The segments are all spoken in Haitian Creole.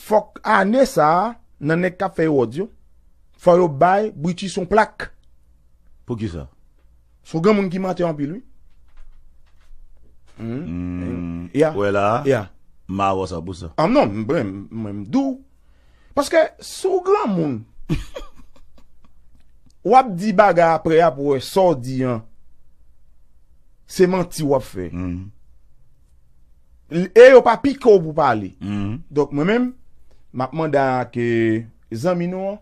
Fòk ane sa nan nèg kap fè ewòd yo fò yo bay brutus yon plak. Poukisa? Son granmoun ki mantè anpil wi. Humm, yeah, yeah. Mawòs an pou sa. An non, mwen m di w. Paske si w granmoun, w ap di bagay apre y ap wè sa w di an se manti w ap fè. E yo pa pike w pou pale. Donk mwen menm, m ap mande a ke zanmi nou an.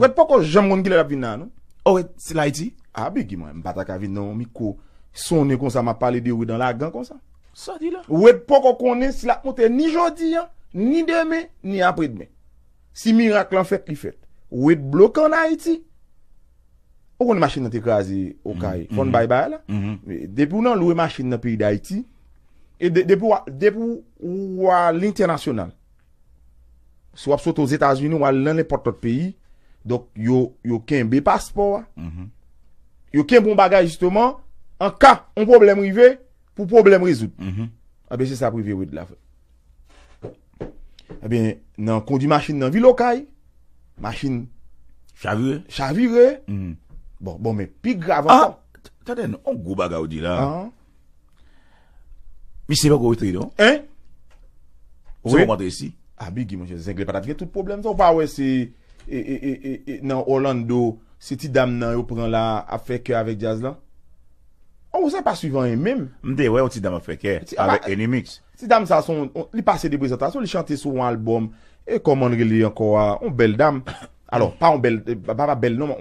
Red poko janm konn kilè lap vin la non. Oh red se la ayiti? Ah bgy mwen m pata ka vin nan yon mikwo sonnen konsa map pale de red an lagan konsa. Sa di la? Red poko konnen si lap monte ni jodi an, ni demen, ni apre demen. Si mirak lan fèt li fèt. Red bloke an ayiti. Ou konnen machin nan te kraze okay fò n bay bay la. Depi w nan lwe machin nan peyi dayiti e depi w depi w al entènasyonal. Si wap soti ozetazini wal nan nenpòt lòt peyi donk yo yo kenbe paspò a yo kenbe yon bagay jisteman an ka yon pwoblèm rive pou pwoblèm rezoud ebyen se sa ap rive wid la frè ebyen nan kondi machin nan vil okay machin chavire chavire bon bon men pi grav ankò an tande yon gwo bagay ou di la an Misye poko retre non. Hein? Ou se komante isi? A bigi mwen jè zengle patat gen tout problem sa ou pa wè se e e e e e nan Orlando se ti dam nan yo pran la ap fè kè avèk djaz lan. An ou sa pa swiv anyen menm. M te wè yon ti dam ap fè kè avèk Enimix. Ti dam sa son li pase de prezantasyon li chante sou yon album E kòman l rele ankò a? On bèl dam, alò, pa on bèl, pa pa bèl non,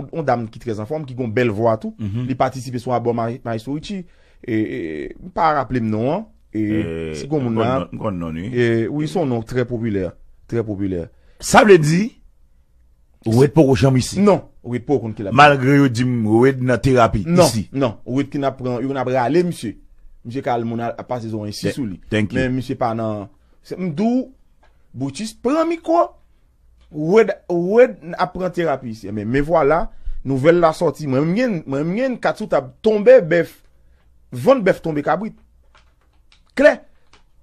on dam ki trè anfòm, ki gen on bèl vwa tou. Li patisipe sou albòm Maestro Richie. E, m pa raple m non an. E, si gen on moun la. E, m konn non l wi. E, wi, s on non trè popilè. Trè popilè. Sa vle di, Wed poko janm isi? Non. Wed poko konn ki lap. Malgre yo di m Wed nan terapi isi. Non. Non. Wed konn ap pran, yo konn ap rale misye. Misye ka al moun al pase zo an isi sou li. Thank you. Men misye pa nan. Se m di w, Brutus pran mikwo, Wed, Wed ap pran terapi isi. Enben, me vwala, nouvèl la sòti. Mwen menm m gen, mwen menm m gen yn kat sou tab, tonbe bèf, vant bèf tonbe kabrit. Klè!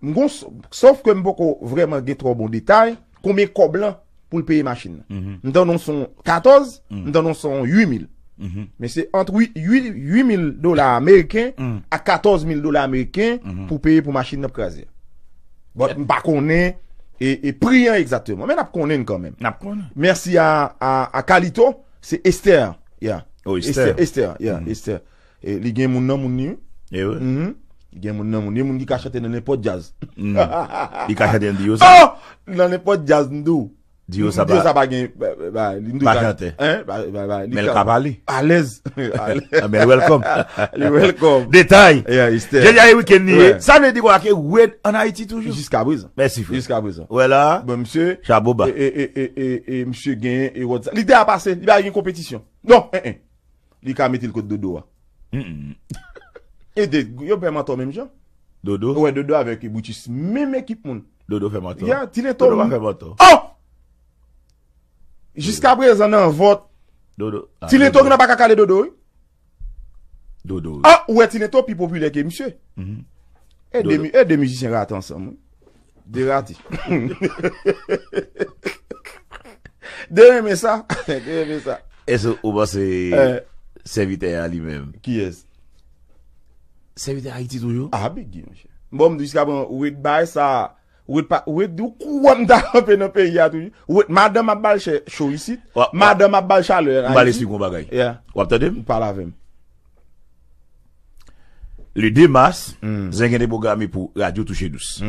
M gon, sòf ke m poko vrèman gen twò bon detay, konbyen kòb lan. pou l peye machin nan. M tande yon son 14, m tande yon son 8 mil. Men se ant 8 mil dola ameriken ak 14 mil dola ameriken pou peye pou machin nan kraze. Bon, m pa konnen e pri an egzateman. Men nap konnen kan men. Nap konnen. Mèsi a Kalito, se Esther. Esther, yeah, Esther. Li gen moun nan moun li wi. Li gen moun nan moun li. Yon moun ki ka chante nan nenpòt djaz. Li ka chante nan Diyo sa? Nan nenpòt djaz m di w. Diyo sa pa. Diyo sa pa gen bagay. Pa chante. Men l ka pale. Alèz. Anben l wèlkòm. Li wèlkòm. Detay. Yeah it's there. Jodi a e wikenn li ye. Sa vle di kwa ke Wed an Ayiti toujou? Jiska prezan. Mèsi frè. Jiska prezan. Ou wè la a? Bon msye. Chapo ba. E msye gen e Wed sa. Li deja pase. Li pa gen konpetisyon. Non. Li ka metel kot dodo a. E de yo pè mantò menm jan. Dodo. Ou wè dodo avèk brutus menm ekip moun. Dodo fè mantò. Ya ti leto. Dodo pa fè mantò. Oh! Jiska prezan nan vòt. Dodo. Ti leto gen nan paka kale dodo wi. Dodo. Oh ou wè ti leto pi popilè ke misye. E de e de mizisyen rate ansanm wi. Derati. Dey renmen sa. Dey renmen sa. Èske ou panse sèvitè a li menm? Kiyès? Sèvitè Ayiti toujou? A bgy monchè. Bon m di jiska prezan ou ret bay sa a. Ou ret di ou kwè m ta kanpe nan peyi a toujou. Ou ret madanm ap ba l cho isit. Madanm ap ba l chalè an Ayiti. M ba l esplike w yon bagay. Wap tande m? Pale avè m. Le 2 mas, zen gen te pwograme pou Radyo Touche Dous.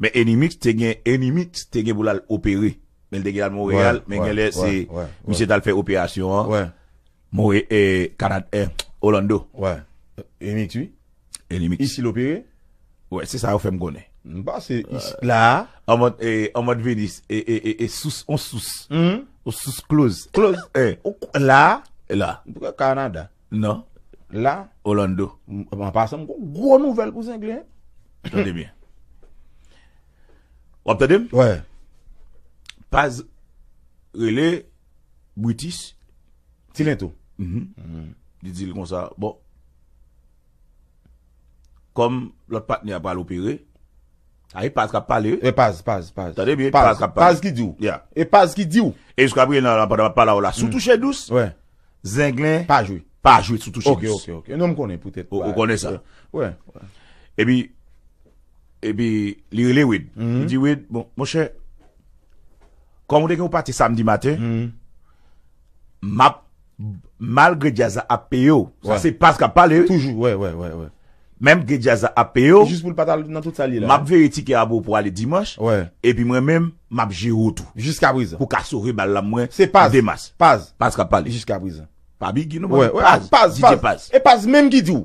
Men Enimix te gen, Enimix te gen pou l al opere. Men l te gen al Monreyal, men genlè se misye t al fè operasyon an Monre, e, Kanad, e, Olando. Enimix wi. Elimix. Ici l'opéré? Wè se sa yo fèm konnen. M pase ici la. An mòd an mòd Venus e sous on sous. On sous kloz. Kloz e. Ou k la? La. M pou kè Canada. Non. La. Orlando. An pasan m gon gwo nouvèl pou zenglen. Tande byen. Wap tande m? Wè. Paz rele Brutus. Ti lento. Li di l konsa bon. Kòm lòt patnè a pral opere. A e paz kap pale wi. E paz paz paz. Tande byen paz kap pale. Paz ki diw. Ya. E paz ki diw. E jiska prenan la pandan map pale avèw la sou touche dous. Wè. Zenglen. Pa jwe. Pa jwe sou touche dous. Ok ok ok. Non m konnen poutèt pa. Ou konnen sa. Wè. Epi epi li rele wid. Li di wid bon monchè. Kòm ou te gen yon pati samdi maten. Map malgre djaz la ap peye w. Sa se Paz kap pale wi. Toujou wè wè wè wè. Menm ke djaz la ap peye w. Jis pou l pa t al nan tout sa l ye la. Map veye tikè a pou w pou w ale dimanch. Wè. Epi mwen menm map jere w tou. Jiska prezan. Pou ka sove bal la mwen. Se Paz. Demas. Paz. Paz kap pale. Jiska prezan. Pa bigi non. Wè wè. Paz. Paz. Didye Paz. E Paz menm ki di w.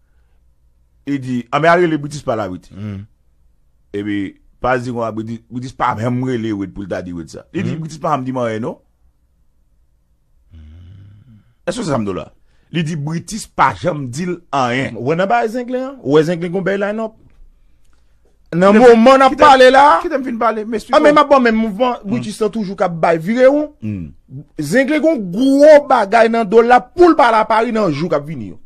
Li di, anben al rele Britis pa la Wid. Epi, Paz di konsa, Britis pa janm rele Wid pou l ta di Wid sa. Li di, Britis pa janm di m anyen non. Èske w se sa m di w la? Li di, Britis pa janm di l anyen. Ou wè nan bagay Zenglen an? Ou wè Zenglen gen yon bèy line up? Nan moman nap pale la. Kite m fin pale m esplike w. Anben map ba w menm mouvman Brutus lan toujou kap bay vire w. Zenglen gon gwo bagay nan do l la pou l pa al a Paris nan jou kap vini yo.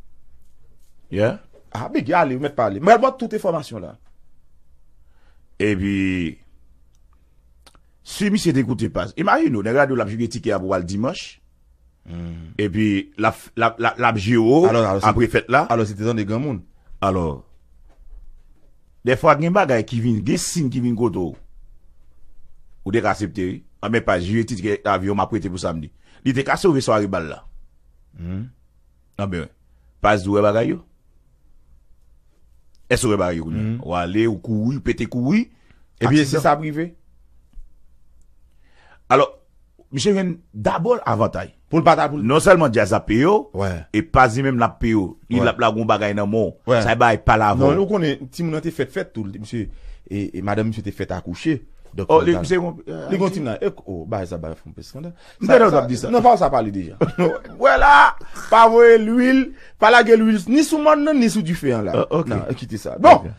Yeah. Ah bgy ale ou mèt pale. M pral ba w tout enfòmasyon la. Epi si misye te koute pas. Imajine w nèg radio l ap jige tikè a pou w al Dimanch. Epi, l ap jere w apre fèt la. Alò, se te tande granmoun. Alò, dèfwa gen bagay ki vin, gen sin ki vin kote w, ou te ka asepte wi. Anben, pa jere tikè avyon m ap prete pou samdi. Li te ka sove sware bal la. Anben, past di ou wè bagay yo? Èske ou wè bagay yo kounya? Ou ale, ou kouri, ou pete kouri, Epi e se sa ap rive. Alò, misye jwenn dabò l avantay. Pou l pa ta pou l. Non sèlman djaz ap peye w, Wè. e past li menm l ap peye w. Li l ap lage yon bagay nan men w. Wè. Sa e bagay pale avè w. Non, ou konnen, timoun nan te fèt fèt tou. Misye, e, e madanm misye te fèt akouche. Donk. O, li, misye gon. Li gon ti nan. E, o, bagay sa bay fè w anpil skandal. M te tande w ap di sa. Non pa ou sa pale deja. Wè la! Pa voye lwil, pa lage lwil ni sou mòn nan ni sou dife an la. Nan, kite sa. Bon!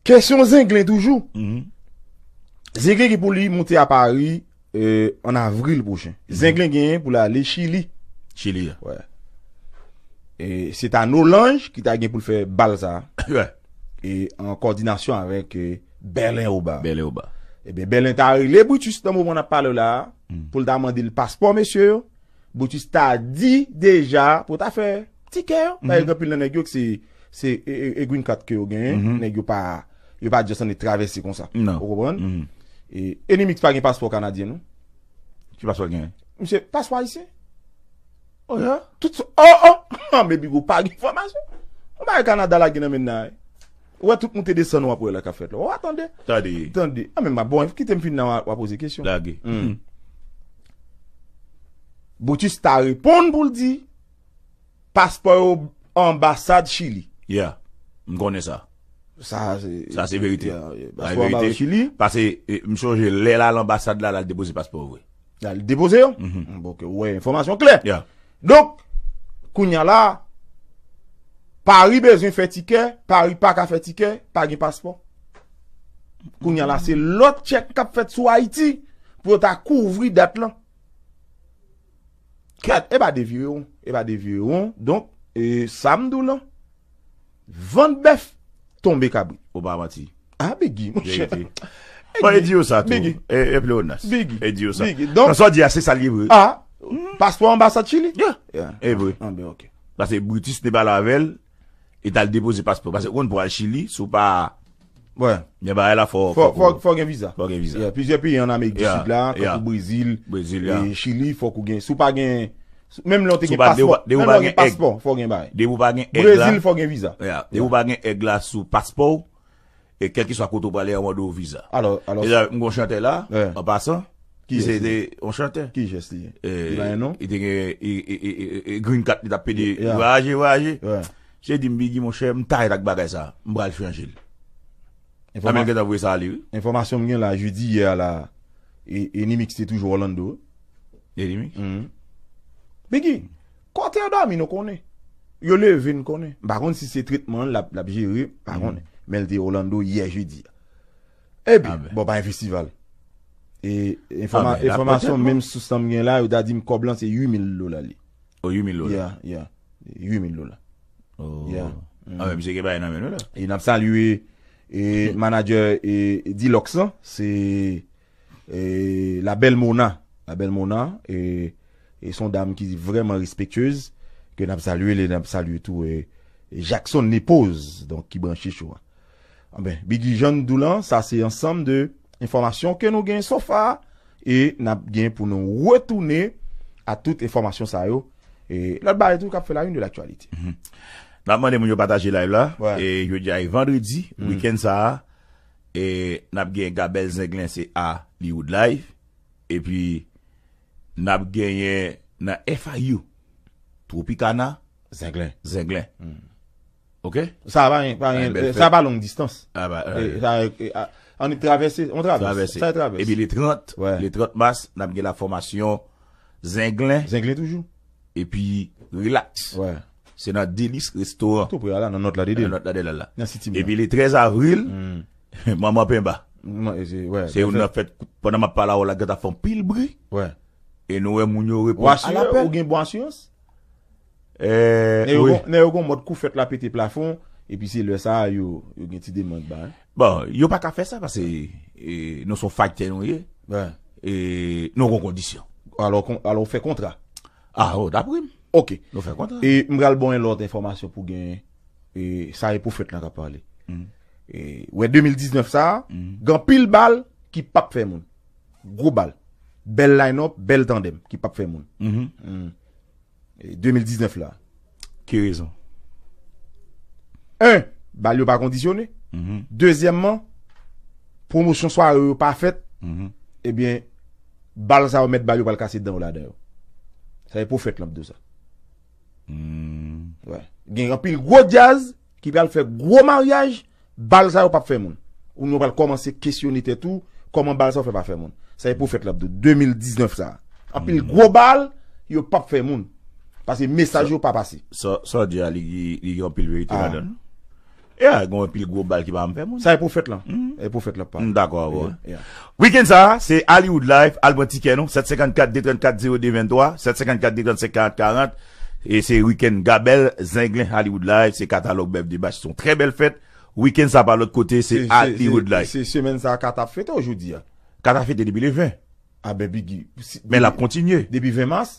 Kesyon Zenglen toujou. Zenglen gen pou li moute a Pari an avril pwochen. Zenglen genyen pou l ale Chili. Chili a. Wè. E se ta Nolanj ki ta gen pou l fè bal sa. Wè. E an kòdinasyon avèk e. Bèlen oba. Bèlen oba. Ebyen Bèlen ta rele Brutus nan moman nap pale w la a, pou l ta mande l paspò mesye yo, Brutus ta di deja pou ta fè tikè yo, paske gen anpil nan nèg yo ki se e green card ke yo genyen, nèg yo pa yo pa just annik travèse konsa. Ou konprann? E Enimix pa gen paspò kanadyen non. Ki paspò l genyen? Misye, paspò ayisyen. Oh yeah? Tout sa, oh oh! An men Bigo pa gen enfòmasyon. Yon bagay Kanada lage nan men n la a wi. Ou wè tout moute desann wap wè la kap fèt la. Wa tande. Tande. Tande. A men ma bon kite m fin nan wa poze kesyon. Lage. Humm. Brutus ta reponn pou l di paspò yo anbasad chili. Yeah. M konnen sa. Sa se. Sa se verite. Sa se verite. Pase m sonje lè l al anbasad la lal depoze paspò vre. Lal depoze yo? Humm. Bon ke ou wè enfòmasyon klè. Yeah. Donk, kounya la a, Paris bezwen fè tikè, Paris pa ka fè tikè, pa gen paspò. Kounya la a, se lòt tchèk k ap fèt sou Ayiti pou yo ta kouvri dèt lan. Kèt, e pa devire won, e pa devire won. Donk, e sa m di w lan. Vant bèf tonbe kabrit. Ou pa manti. Ah Biggy mon cher. Verite. Bon e di yo sa tou. Biggy. E pleonas. Biggy. E di yo sa. Biggy. Donk. Nan sa w di a se sa l ye vre. Ah. Paspò anbasad Chili? Yeah. Yeah. E vre. Ah ben ok. Pase Brutus te pale avè l, li t al depoze paspò. Pase ou konn pou al Chili, si w pa. Fò gen viza Plizyè peyi an Amerik di Sid la Tankou Brezil Chili Fòk ou gen Si w pa gen Menm lè w te gen paspò Menm lè w gen paspò Fò w gen bagay Brezil fò w gen viza Depi w pa gen èg la sou paspò w E kèlkeswa kote w prale yo ap mande w viza M gon chantè la An pasan Ki se te yon chantè Ki jès li Li pa gen non Li te gen Green card li tap pede Vwayaje vwayaje Se dim biggy monchè m tired ak bagay sa m pral chanjel Amel m gentan voye sa ale wi. Enfòmasyon m gen la jedi yè a la Enimix te toujou Orlando. Enimix? Humm. Biggy, kote yo dòmi nou konnen. Yo leve n konnen. M pa konn si se tretman l lap jere, m pa konnen. Men l te Orlando yè jedi a. Epi, bon pa gen festival. E enfòmasyon menm sous lan m gen la yo ta di m kòb lan se 8000 dola li. Oh 8 mil dola. Yeah, yeah. 8 mil dola. Oh. Yeah. Ah men misye gen bagay nan men nou la. E nap salye e manager e Dilox lan, se e la belle Mona. La belle Mona e e son dam ki vreman respectueuse ke nap salye li, nap salye tou e Jackson Nepose donk ki branche cho a. Anben, bgy jan n di w lan, sa se ansanm de enfòmasyon ke nou gen so far e n ap gen pou nou retounen a tout enfòmasyon sa yo e lòt bagay tou k ap fè la une de l'actualité. N ap mande moun yo pataje live la e jodi a e vandredi wikenn sa a e n ap gen Gabèl Zenglen se a li wood live epi n ap genyen nan FIU Tropicana Zenglen. Ok. Sa pa gen, pa gen, sa pa long distans. A ba. An nou travèse, an travèse. Travèse. Sa travèse. E pi le 30, le 30 mas, nan ap gen la fòmasyon zenglen. Zenglen toujou. E pi relax. Wè. Se nan Delis Restaurant. Tou pre a la, nan not la de de. Nan not la de la la. Nan siti mwen. E pi le 13 avril, manman penba. Manman, e se, wè. Se ou nan fèt, pandan map pala ou la gata fon pil bri. Wè. E nou wè moun yo repon. Ou asire, ou gen bon asirans? Nèg yo gon mòd kou fèt la pete plafon epi se lè sa a yo gen ti demand ba. Bon, yo pa ka fè sa pase nou son faytè nou ye e nou gon kondisyon. Alò ou fè kontra? A, ou ta prim. Ok. Nou fè kontra. E m pral bon yon lòt enfòmasyon pou gen e sa e pou fèt la ka pale. E ou e 2019 sa a, gen pil bal ki pap fè moun. Gwo bal. Bèl line up, bèl tandem ki pap fè moun. 2019 la ki rezon? 1 bal yo pa kondisyone dezyèmman pwomosyon sware yo pa fèt ebyen bal sa yo mèt bal yo pral kase dan yo ladan yo sa se pwofèt lan k di w sa gen anpil gwo djaz ki pral fè gwo maryaj Bal sa yo pap fè moun. Ou menm ou pral kòmanse kesyone tèt ou, kòman bal sa yo fè pa fè moun. Sa e pwofèt la ap di w 2019 sa. Anpil gwo bal yo pap fè moun. Pase mesaj yo pa pase. Sa w di a li gen anpil verite ladan l. Ya, gen anpil gwo bal ki pa janm fè moun. Sa e pwofèt la. E pwofèt la ap pale. M dakò avè w. Weekend sa a, se Hollywood Life, al pran tikè nou, 754 234 02 23, 754 235 40 40. E se weekend Gabel zenglen Hollywood live se katalog bèf de bach son trè bèl fèt weekend sa pa lòt kote se Hollywood live. Se semèn sa Kata ap fete ou jodi a? Kata fete depi le 20. Ah ben bgy. Men lap kontinye. Depi 20 mars?